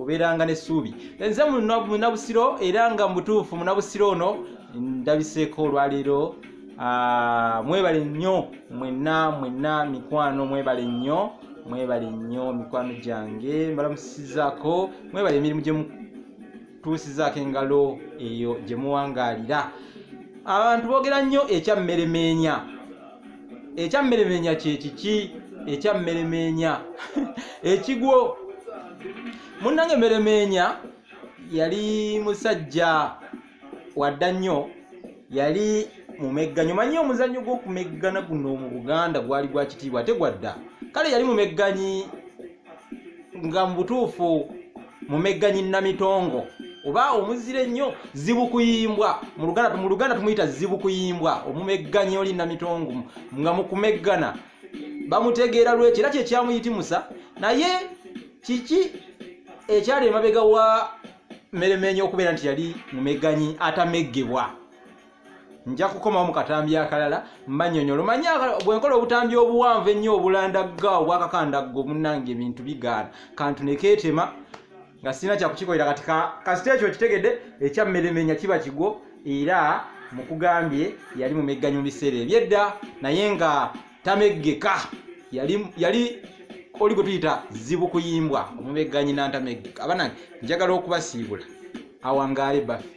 obeeranga n'essuubi nze munabusiro era nga mubutuufu munabusiro ono ndabiseeko olwaleero ah, mwebale nnyo mwenna mwenna mikwano mwebale nnyo mwebale nnyo mikwano gyange mbalamusizako mwebale emirimu gye tuusizaako engalo eyo gye muwangaalira abantu boogera nnyo ekyammeremeenya ekyammeremeenya kyekiki ekyammeremeenya ekigwo munnange mmeremeenya yali musajja wadda nnyo yali mumegganyo manyi omuzannyo gw'okumeggana guno mu buganda gwali gwa kitiibwa tegwadda kale yali mumegganyi nga mu butuufu mumegganyi namitongo oba omuzira ennyo zibukuyimbwa mu luganda tumuyita zibukuyimbwa omumegganyi oli namitongo nga mukumeggana bamutegeera lwekyo era kyekyamuyitimusa naye kiki ekyali emabega wa meremenyo okubeera nti yali mumeganyi atameggebwa nja kukomawo mu katambi akalala mbanyonyolo manya bwenkola obutambi obuwanvu ennyo obulandagga obwakakandaggo munange ebintu bigaana kantu nekeetema nga sirina kyakukikolera kati kasita ekyo kitegedde ekyammeremenya kiba kigwo era mukugambye yali mumegganyo mu biseera ebyedda naye nga tameggeka yali yali oli gwe tuyita zibu kuyimbwa omumegganyi nantameggeka abanange njagala okubasiibula awangaale baffe